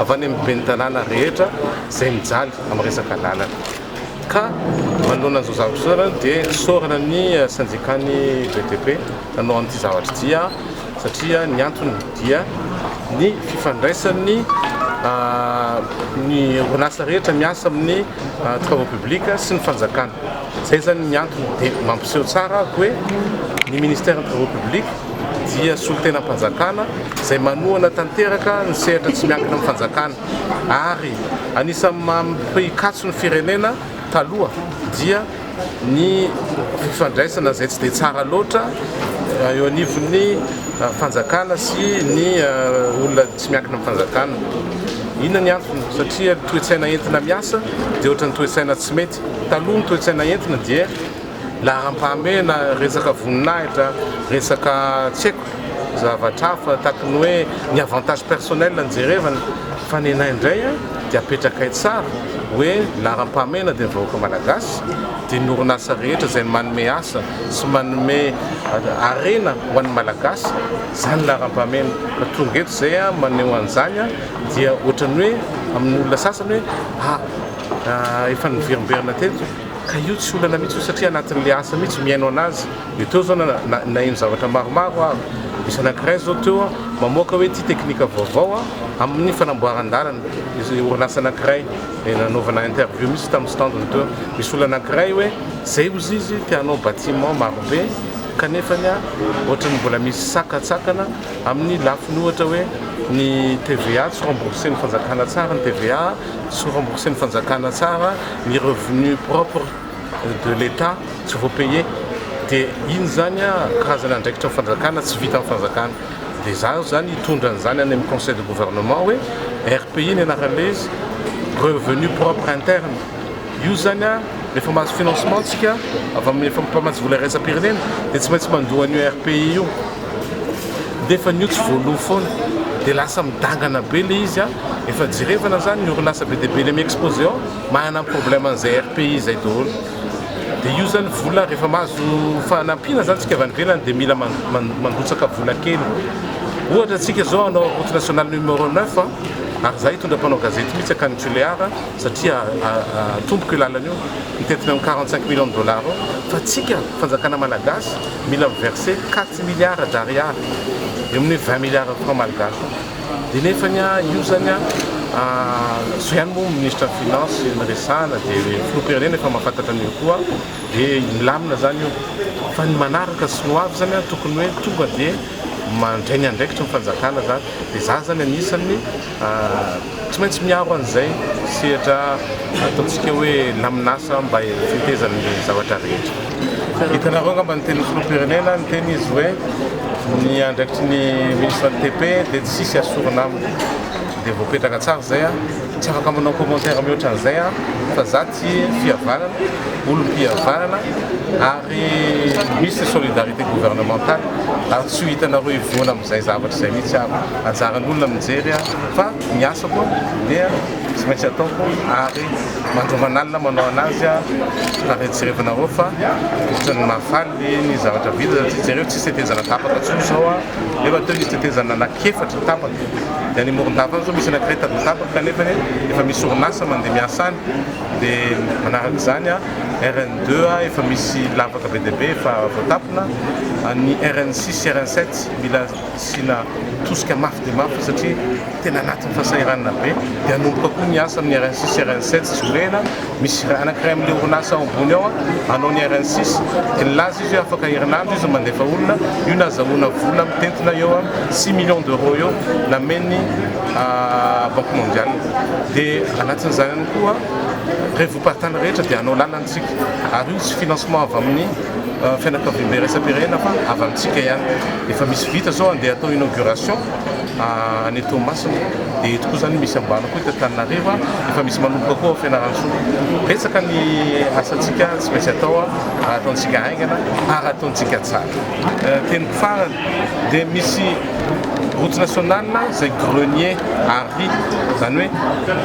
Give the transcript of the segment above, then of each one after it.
avy any amin'ny ben'ny tanàna rehetra izay mijaly amin'ny resaka lalana ka manoloana an'izao zavatra izao ianareo dia isaorana ny sendikan'ny BDP nanao an'ity zavatra ity satria ny antony dia ny fifandraisan'ny ny orinasa rehetra miasa amin'ny travaux publics sy ny fanjakana, izay izany ny antony dia mampiseho tsara hoe ny ministère ny travaux publics dia solontenam-panjakana izay manohana tanteraka ny sehatra tsy miankina amin'ny fanjakana ary anisan'ny maha mpikatso ny firenena taloha dia ny fifandraisana izay tsy dia tsara loatra eo anivon'ny fanjakana sy ny olona tsy miankina amin'ny fanjakana. Inona ny antony? Satria ny toe-tsaina entina miasa dia ohatran'ny toe-tsaina tsy mety. Taloha ny toe-tsaina entina dia laharam-pahamehana, resaka voninahitra, resaka tsy haiko zavatra hafa tahaka ny hoe ny avantage personnel no jerevana fa ny anay indray a dia apetrakay tsara hoe laharam-pahamehana dia ny vahoaka malagasy dia ny orinasa rehetra izay manome asa sy manome harena ho an'ny malagasy izany ny laharam-pahamehana fa tonga eto izay a maneho an'izany a dia ohatran'ny hoe amin'ny olona sasany hoe a efa niverimberina teto Ka io tsy olana mihitsy io satria anatin'ilay asa mihitsy mihaino anazy dia teo zao naheno zavatra maromaro aho, misy anankiray zao teo an mamoaka hoe ity teknika vaovao an amin'ny fanamboaran-dalana, misy orinasa anankiray nanaovana interview mihitsy tamin'ny stand-ny teo, misy olona anankiray hoe zay ozy izy te hanao bâtiment marobe kanefany an ohatran'ny mbola misy sakantsakana amin'ny lafiny ohatra hoe ny TVA tsy rembourser-n'ny fanjakana tsara ny TVA, Tsy rembourser ny fanjakana tsara ny revenu propre de l'Etat tsy voa paye dia iny zany a karazana andraikitra ny fanjakana tsy vitan'ny fanjakana dia za zany hitondra an'izany any amin'ny conseil de gouvernement hoe RPI ny anaran'ilay izy revenu propre interne Io zany a, rehefa mahazo financement tsika avy amin'ny efa mpamatsy vola iraisam-pirenena dia tsy maintsy mandoa an'io RPI io. Nefa an'io tsy voaloa foana. Dia lasa midangana be ilay izy a. Efa jerevana zany ny orinasa be dia be eny Exposé ao manana ny problème an'izay RPI izay daholo. Dia io zany vola rehefa mahazo fanampiana zany tsika avy any ivelany dia mila manrotsaka vola kely. Ohatra tsika zao hanao route nationale numéro neuf a, ary za hitondra mpanao gazety mihitsy akany Tulear. satria atomboko io lalana io mitentina eo amin'ny quarante cinq millions de dollars eo fa antsika fanjakana malagasy mila mi-verser quatre milliards d'ariary eo amin'ny hoe vingt milliards francs malgaches dia nefany io zany an zao ihany moa ministre ny finance no resahana dia filoham-pirenena efa mahafantatra an'io koa dia milamina zany io fa ny manaraka sy ny ho avy zany an tokony hoe tonga dia mandray ny andraikitry ny fanjakana zany dia za zany anisan'ny Tsy maintsy miaro an'izay sehatra ataontsika hoe laminasa mba hitetezan'ireny zavatra rehetra. Hitanareo angamba ny tenin'ny filoham-pirenena, niteny izy hoe ny andraikitry ny minisitra ny TP dia tsy hisy asorina aminy. Dia voapetraka tsara izay. Tsy afaka manao commentaire mihoatra an'izay aho fa za. Tsy fihavanana, olom-pihavanana ary misy solidarité gouvernementale ary tsy ho hitanareo hivoana amin'izay zavatra izay mihitsy aho. Anjaran'olona mijery aho fa ny asako dia tsy maintsy ataoko ary mandro aman'alina manao an'azy aho fa retsirevinareo fa ohatran'ny mahafaly ny zavatra vita satria jereo tsisy tetezana tapaka intsony izao aho nefa teo nisy tetezana anak'efatra tapaka dia any Morondava any izao misy anak'iray tadiny tapaka kanefa efa misy orinasa mandeha miasa any. dia manaraka izany RN deux efa misy lavaka be dia be efa voatapona, ny RN six sy RN sept mila asiana tosika mafy dia mafy satria tena anatin'ny fahasahiranana be, dia hanomboka koa ny asa amin'ny RN six sy RN sept tsy vorena, misy iray anakiray amin'ilay orinasa ao ambony ao hanao ny RN six dia nilaza izy hoe afaka herinandro izy no mandefa olona, io nahazahoana vola mitentina eo amin'ny six millions d'euros eo namen'ny. Banque Mondiale dia anatsin'izany ihany koa revoparitany rehetra dia hanao lalana isika ary io tsy financement avy amin'ny fianakaviambe iraisam-pirenena fa avy amintsika ihany. Efa misy vita izao andeha atao inauguration any Toamasina dia eto koa izany misy ambany koa eto Antananarivo efa misy manomboka koa ao Fianarantsoa. Betsaka ny asantsika tsy maintsy atao ary ataontsika haingana ary ataontsika tsara. Teniko farany dia misy route nationale izay grenier à riz, izany hoe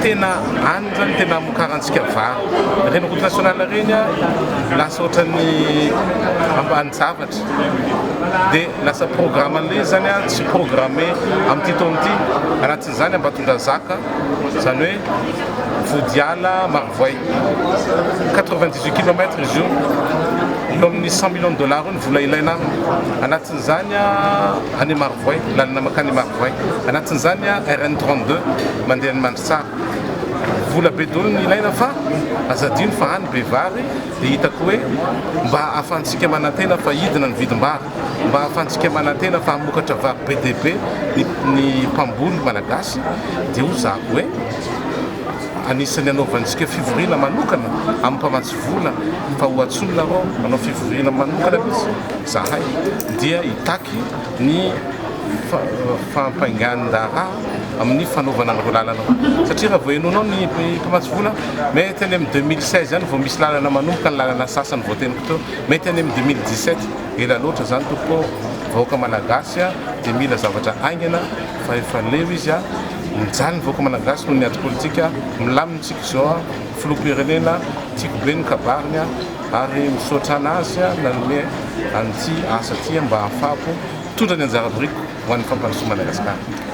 tena any izany tena amokarantsika vary, ireny route nationale ireny lasa ohatran'ny ambanin-javatra, dia lasa programme-n'ilay izy izany tsy programme amin'ity taona ity, anatin'izany Ambatondrazaka, izany hoe Vodiala, Marovoay, quatre-vingt-dix-huit kilomètres izy io, eo amin'ny cent millions de dollars eo. Vola ilaina aminy. Anatin'izany any Marovoay, lalana mankany Marovoay. Anatin'izany RN 32 mandeha any Mandritsara. Vola be daholo no ilaina fa aza adino fa any be vary dia hitako hoe mba ahafahantsika manantena fa hidina ny vidim-bary, mba ahafahantsika manantena fa hamokatra vary be dia be ny mpamboly malagasy dia hozahako hoe anisan'ny hanaovantsika fivoriana manokana amin'ny mpamatsy vola. vola fa ho antsoina arô hanao fivoriana manokana mihitsy zahay dia hitaky ny fampaingan'ny raharaha amin'ny fanaovana an'ireo lalana ireo satria raha vao henoinao ny mpamatsy vola mety any amin'ny 2016 any vao misy lalana manomboka ny lalana sasany vao teniko teo mety any amin'ny 2017 ela loatra zany tompoko vahoaka malagasy dia mila zavatra aingana fa efa leo izy a mijaly ny vahoaka malagasy noho ny ady politika milaminy tsika izao Filoham-pirenena tiako be ny kabariny ary misaotra an'azy nanome an'ity asa ity mba hahafahako mitondra ny anjara biriko ho an'ny fampandrosoan'i Madagasikara.